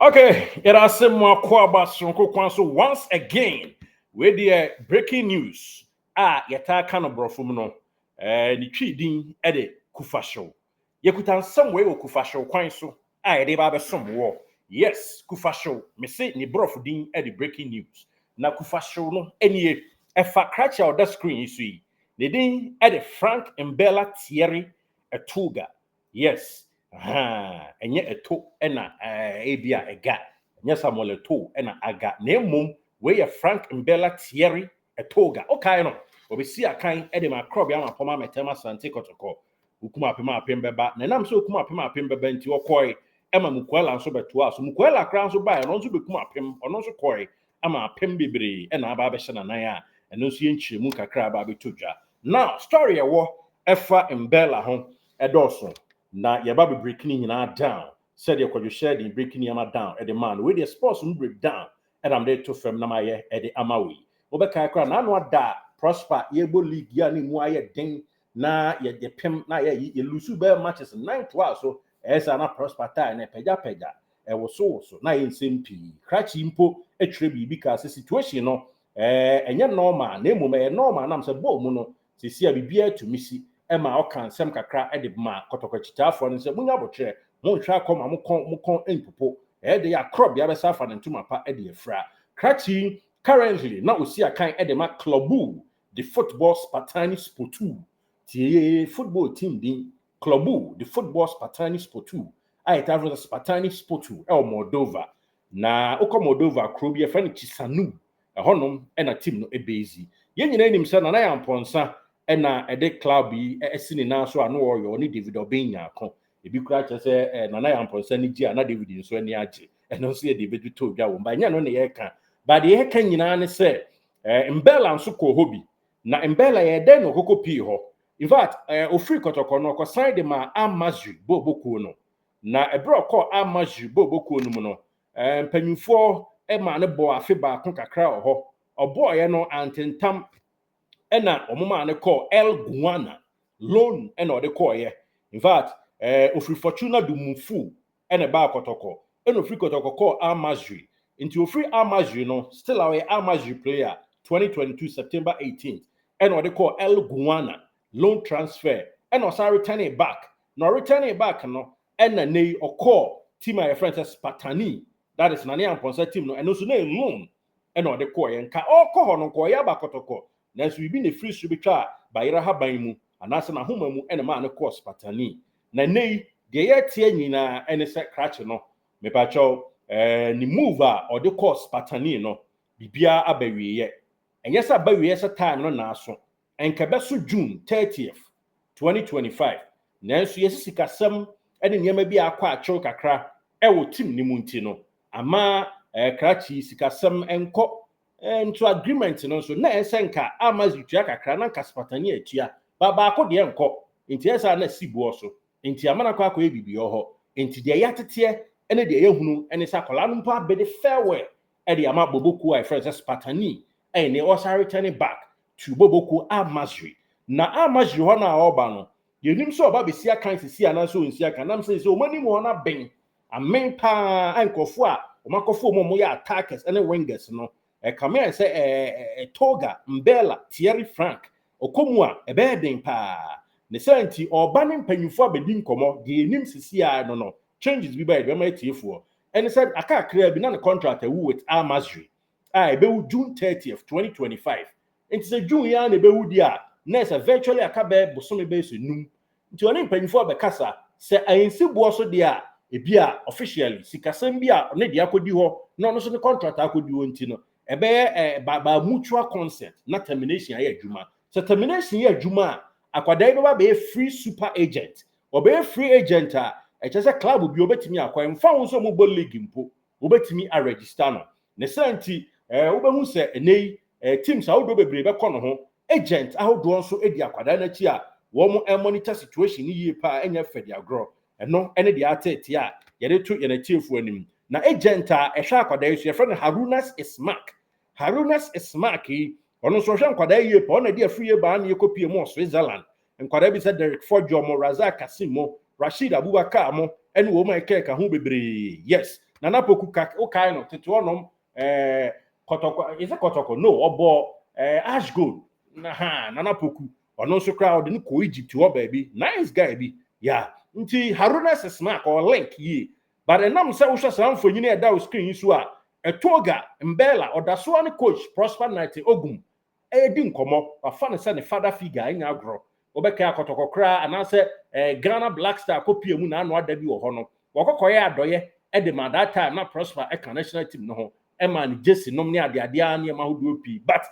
Okay, yɛda ase mo akɔ aba soronko kwan so once again. Wei deɛ breaking news a yɛtaa ka no borɔfo mu no, eh, ne twi din de kufahyew. Yɛkuta nsɛm wei wɔ kufahyew kwan so a yɛde ba abɛsom wɔ. Yes, kufahyew, mese ne borɔfo din de breaking news. Na kufahyew no nie, ɛfa krakye a ɔda screen yi so yi. Ne din de Frank Mbella Thierry Etuga. Yes ahaa ɛnyɛ ɛto na eh, ebia ɛga ɛnyɛ Samuel ɛto na aga na mmom wei yɛ Frank Mbella Thierry Ɛtoga okae no ɔbɛsi akan de ma akorɔbea ama pɔm amɛtɛm asante kɔtɔkɔ okum apem apem bɛba na ɛnam sɛ okum apem apem bɛba nti ɔkɔe ɛma Mukuala nso bɛtoa so Mukuala koraa nso baeɛ no nso bɛkum apem ɔno nso kɔe ama apem bebree na aba abɛhyɛ n'anan a, ɛno nso yɛ nkyerɛmu kakra aba abɛtɔ dwa. Now, story a ɛwɔ ɛfa Mbella ho ɛdɔɔso, na yɛba bɛ break ne nyinaa down sɛdeɛ Kwadwo Hyɛden break nneɛma down ɛde maa no. Wei deɛ sports mu break down ɛna mede reto fam na mayɛ ɛde ama wo yi. Wobɛkae koraa a, n'ano ada a Prosper yɛrebɔ league yi a na ɛmu ayɛ den na yɛ yɛ pem na yɛ yɛ lusu bɛyɛ matches nan toa so ɛyɛ saa na Prosper tae na ɛpɛgyapɛgya ɛwosowoso na yɛ nsɛm pii krakye mpo ɛtwerɛ biribi kaa sɛ situation no ɛɛ ɛnyɛ normal na mmom ɛyɛ normal nam sɛ bɔɔ mu no sɛsi a biribiara tumi si ɛma ɔka nsɛm kakra ɛde ma kɔtɔkɔkyitaafoɔ no sɛ munya abokyerɛ monhwɛ akɔ ma mo kɔn mo kɔn ɛmpopo ɛyɛ de yɛ akorɔ bea bɛsa afa ne ntoma pa ɛde afira krakye currently na ɔsi akan ɛde ma clubu de Football Spartani Sportu, tie football team din, Klubu de Football Spartani Sportu, a yɛtaa frɛ no sɛ Spartani Sportu, wɔ Moldova. Na wokɔ Moldova kurow bi a yɛfrɛ no Chisanu, ɛhɔnom na team no base. Yɛn nyinaa nim sɛ Nana Yampɔnsa na ɛde club yi asi ne nan so a na ɔyɛ ɔne David Obeng Nyarko. Ebi koraa kyerɛ sɛ Nana Yampɔnsa ani gye a na David nso ani agye. Ɛno nso yɛde bɛtotɔ dwa wom, but ɛnyɛ ɛno na yɛreka. But deɛ yɛreka nyinaa ne sɛ Eh, Mbella nso kɔɔ hɔ bi. Na Mbella yɛɛ dɛn na ɔkɔkɔ pii hɔ? In fact, eh, ɔfiri Kɔtɔkɔ no, ɔkɔsan de maa Amazwi boobɔ kuo no. Na ɛberɛ a ɔkɔɔ Amazwi boobɔ kuo no mu no, eh, mpanyinfoɔ maa no bɔɔ afe baako kakra wɔ hɔ. Ɔbɔɔeɛ no, antentam na wɔn maa no kɔɔ El Guana. Loan na ɔde kɔɔeɛ. In fact, eh, ɔfiri Fortuna do Mufuu na ɛbaa kɔtɔkɔ, ɛna ɔfiri kɔtɔkɔ kɔɔ Al Masry, nti ɔfiri Al Masry no, still a ɔyɛ Al Masry player, 2022 September 18th ɛna ɔde kɔɔ El Gouana, loan transfer, ɛna ɔsan returnee back, na ɔreturnee back no ɛna nnɛ yi ɔkɔɔ team a yɛfrɛ no sɛ Spartani, that is Nane Amponsah team no, ɛno nso na ɛyɛ loan, na ɔde kɔeɛ, nka ɔrekɔ hɔ no, nka ɔreyɛ abakɔtɔkɔ, nanso biribi na ɛfiri soro bɛtwaa bayerɛ haban mu, anaasɛ n'ahoma mu na ɛmaa no kɔɔ spatani. Na nnɛ yi, deɛ yɛreteɛ nyinaa ne sɛ krakye no, mepakyɛw, ɛɛ, ne move a ɔde kɔɔ spatani no, biribiara aba awieeɛ. Ɛnyɛ sɛ aba awieeɛ sɛ time no naaso, Anka ɛbɛso June thirtieth, twenty twenty five, nanso yɛasi sikasɛm ne nneɛma bi a akɔ akyɛw kakra wɔ tim no mu nti no, amma krakye sikasɛm nkɔ. Nto agreement no nso, na ɛyɛ sɛ anka Almaz retua kakra na anka Spatani atua, ba baako deɛ nkɔ, enti ɛyɛ sɛ a na si boɔ so, enti ama no akɔ akɔyɛ biribi wɔ hɔ. Enti deɛ yɛateteɛ ne deɛ yɛahunu ne sɛ akwadaa no mpo abede farewell de ama bobe kuo a yɛfrɛ no sɛ Spartani, ɛyɛ nea ɔsan retɛne back to bobe kuo Al-Masri. Na Al-Masri hɔ no a ɔreba no, yɛnim sɛ ɔba bɛsi akan sisi anaasɛ ɔnsi akan, nam sɛ sɛ wɔn anim hɔ no aben, amen paa, nkurɔfoɔ a wɔakɔfo wɔn a wɔyɛ attackers ne wingers no, ɛkame ayɛ sɛ ɛɛ Toga, Mbella, Thierry Franck, ɔkɔ mu a, ɛbɛyɛ den paa. Ne saa nti, ɔreba ne mpanyimfoɔ abɛdi nkɔmmɔ, deɛ yɛnim sisi ara no no, changes bi bae bɛma atiefoɔ ɛne sɛ aka kakraa bi na ne contract awu with Al Masry a ɛbɛwu June 30th, 2025. Nti sɛ June yi ara na ɛbɛwu deɛ a, na ɛyɛ sɛ virtually aka bɛyɛ bosome bɛyɛ sɛ num. Nti ɔne mpanyinfoɔ bɛkasa, sɛ ansi boɔ so deɛ a, ebia officially sikasɛm bi a ɔne deɛ akɔdi hɔ na ɔno nso ne contract akɔdi hɔ nti no, ɛbɛyɛ eh, by, by mutual consent na termination ayɛ adwuma. Sɛ termination yɛ adwuma a, akwadaa yi bɛba bɛyɛ free super agent Ɔbɛyɛ free agent a, ɛkyerɛ sɛ club biara ɔbɛtumi akɔ, ɛmfa ho sɛ wɔbɔ league mpo, wɔbɛtumi a register no. Ne saa nti, eh, wobɛhu sɛ ɛnnɛ yi eh, teams ahodoɔ bebree bɛkɔ no ho. Agent ahodoɔ nso di akwadaa no akyi a, wɔn monitor situation no yie paa, ɛnyɛ fɛ de agorɔ. Ɛno ne deɛ ateetee a yɛde to yɛn atiefoɔ anim. Na agent a ɛhwɛ akwadaa yi so, yɛfrɛ no Harunas Ismak. Harunas Ismak yi, ɔno nso ɔhwɛ nkwadaa yie paa, ɔno na ɛde afiri yɛ baa ne yɛkɔpie mu wɔ Switzerland. Nkwadaa bi sɛ Derek Fodjo mo, Razak Kassim mo, Rasheed Abubakar mo ɛne wɔn a ɛkɛɛka ho bebree. Yes. Nana Poku ka wo kae no tete hɔ nom eh, kɔtɔkɔ, is it kɔtɔkɔ? No, ɔbɔ eh, Ash Gold. Na ha, Nana Poku. Ɔno nso koraa ɔde no kɔ Egypt hɔ baabi. Nice guy bi. Yeah. Nti Haruna sɛ smack or link yie. But ɛnam sɛ wohwɛ saa mfonyini a ɛda wo screen yi so a, Ɛtoga, Mbella, Ɔdasoa ne coach Prosper Nite Ogum redi nkɔmmɔ. Wafa no sɛ ne father figure, ɛnyɛ agorɔ. Wobɛkae Akɔtɔkɔ koraa anaasɛ Ghana Black Star akɔpue mu n'ano ada bi wɔ hɔ no, wɔkɔ kɔyɛɛ adɔeɛ de maa that time na Prosper ka national team no ho, ɛmaa no gyesi nom ne adeadeɛ ara nneɛma ahodoɔ pii but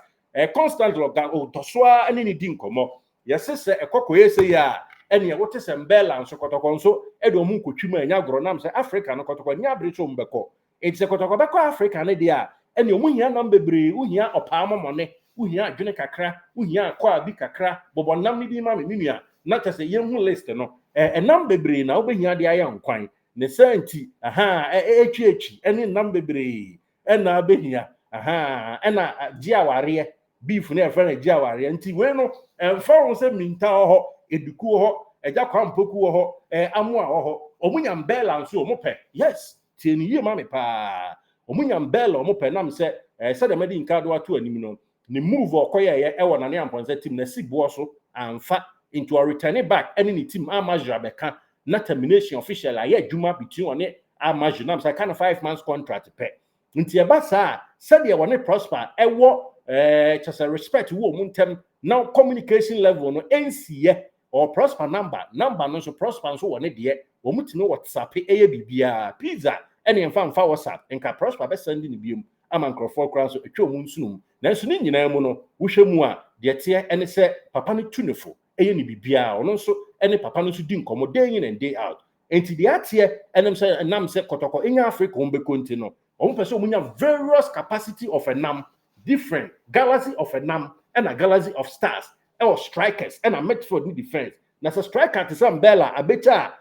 constantly ɔga ɔtɔ so ara ne no di nkɔmmɔ. Yɛse sɛ ɛkɔ kɔyɛ sei a ɛneɛ wote sɛ Mbella nso Kɔtɔkɔ nso ɛde wɔn nkɔtwi mu a ɛnyɛ agorɔ nam sɛ Africa no Kɔtɔkɔ nni abere sɛ wɔn bɛkɔ Enti sɛ kɔtɔkɔ bɛkɔ Afrika no deɛ a, ɛnneɛ wohia nam bebree, wohia ɔpaa mɔmɔne, wohia adwene kakra, wohia akwaa bi kakra, bobɔ nam no bi ma me, me nua, na kyɛ sɛ yɛnhu list no. Ɛ, nam bebree na wobɛhia de ayɛ nkwan. Ne saa nti, ahaa, ɛ, ɛ, atwiatwi ne nam bebree na wobɛhia, ahaa, ɛna gye awareɛ, beef no yɛfrɛ no gye awareɛ. Nti wei no, ɛmfa ho sɛ minta wɔ hɔ, Eduku wɔ hɔ, Agya Kwampɔku wɔ hɔ, ɛ, Amoa wɔ hɔ, wɔnya mbɛɛla nso wɔpɛ, yes, Tie no yie ma me paa. Ɔmo nya mbɛɛl a ɔmo pɛ nam sɛ ɛɛ sɛdeɛ mɛde Nkaado ato anim no ne move a ɔkɔyɛɛyɛ ɛwɔ Nane Amponsah team no asi boɔ so anfa nti ɔretɛne back ɛne ne team Al Masry abɛka na termination officially ayɛ adwuma between ɔne Al Masry nam sɛ aka no five months contract pɛ nti ɛba saa a sɛdeɛ ɔne Prosper ɛwɔ ɛɛ kyɛsɛ respect wɔ ɔmo ntɛm na communication level no ɛnsiiɛ Ɔwɔ Prosper number, number no nso Prosper nso wɔ ne deɛ, wɔn tumi whatsappe ɛyɛ biribiara, pizza ɛne ɛmfa mfa whatsapp, nka Prosper bɛ sɛnde no biom ama nkorɔfoɔ koraa nso ɛtwa wɔn nsonom, nanso ne nyinaa mu no wohwɛ mu a deɛ ɛteɛ ɛne sɛ papa no tu ne fo ɛyɛ ne biribiara, ɔno nso ɛne papa no nso di nkɔmmɔ day in and day out, ɛnti deɛ ateɛ ɛnam sɛ ɛnam sɛ kɔtɔkɔ ɛnya Africa wɔn bɛkɔ nti no wɔn pɛ sɛ wɔn nya various capacity of ɛnam, different, galaxy of ɛnam ɛna galaxy of stars, ɛwɔ strikers ɛna midfield ne defence na sɛ striker te sɛ Mbella abɛkya a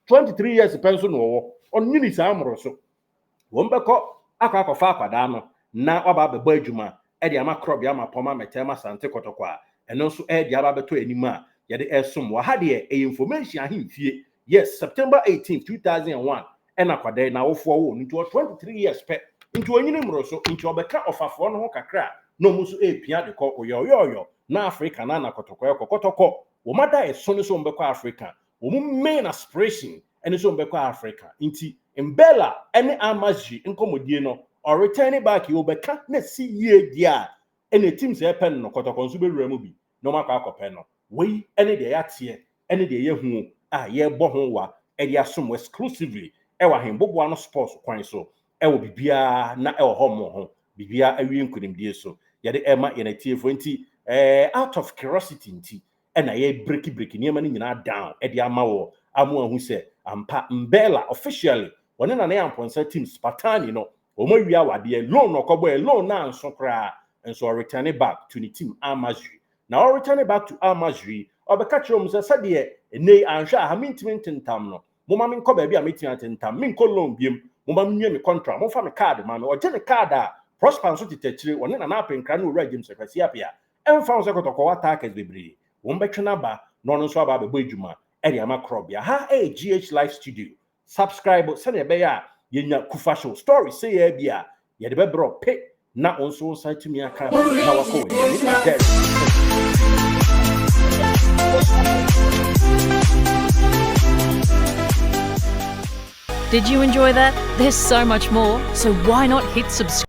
23 years pɛ nso na ɔwɔ ɔnyini saa mmoro so wɔn bɛkɔ akɔ akɔfa akwadaa no na waba abɛbɔ adwuma ɛde ama krɔbe ama pɔm amɛtɛ ama sante kɔtɔkɔ a ɛno nso ɛde aba abɛtɔ anim a yɛde ɛsom wɔ ha deɛ ɛyɛ information ahemfie yes September 18 2001 ɛna kwadaa yi n'awofoɔ woo no nti ɔwɔ twenty three years pɛ nti ɔnyini mmoroso nti ɔbɛka ɔfafoɔ no ho kakra a na ɔmo nso ɛrepia de kɔ oyɔɔyɔɔyɔ na Africa na na kɔtɔkɔ ɛkɔ kɔtɔkɔ wɔn ada ɛso ne sɛ wɔn bɛkɔ Africa wɔn main aspiration ɛne sɛ wɔn bɛkɔ Africa nti Mbella ɛne Amazghi nkɔmɔdie no ɔreturn back yi ɔbɛka na si yie deɛ a ɛna ɛtim sɛ ɛpɛ no no kɔtɔkɔ nso bɛwura mu bi na wɔakɔ akɔpɛ no. Wei ne deɛ yɛateɛ ne deɛ yɛahu a yɛrebɔ ho wa de asom mo exclusively wɔ Ahenboboa no sports kwan so wɔ biribiara na ɛwɔ hɔ mo ho, biribiara awie nkunimdie so yɛde rema yɛn atiefoɔ nti eh, out of curiosity nti na yɛrebrekibreki nneɛma no nyinaa down de ama wɔ a moahu sɛ ampa Mbella officially wɔne Nana Yampɔnsa team Spartani no Wɔawia awadeɛ, loan na ɔkɔbɔɛ, loan no anso koraa, nso ɔretɛne back to ne team Al-Masry. Na ɔretɛne back to Al-Masry, ɔbɛka kyerɛ wɔn sɛ, sɛdeɛ ɛnnɛ yi anhwɛ a ha mentumi ntentam no, momma menkɔ baabi a mɛtumi atentam, menkɔ loan biom, momma menwie me contract, momfa me card mma me. Ɔgye ne card a, Prosper nso tete akyire, ɔne Nana Apenkra ne Owura James Akwasi Apea. Ɛmfa ho sɛ kɔtɔkɔɔ attackers bebree, wɔbɛtwe no aba na ɔno nso aba abɛbɔ adwuma de ama Korɔbea. Ha yɛ GH Life Studio, Subscribe sɛnea ɛbɛyɛ a yɛnya Kufa Show stories sei ara bi a yɛde bɛbrɛ wo pe na wo nso wo nsa atumi aka na wakɔ w'anim. Me ne Did you enjoy that? There's so much more, so why not hit subscribe?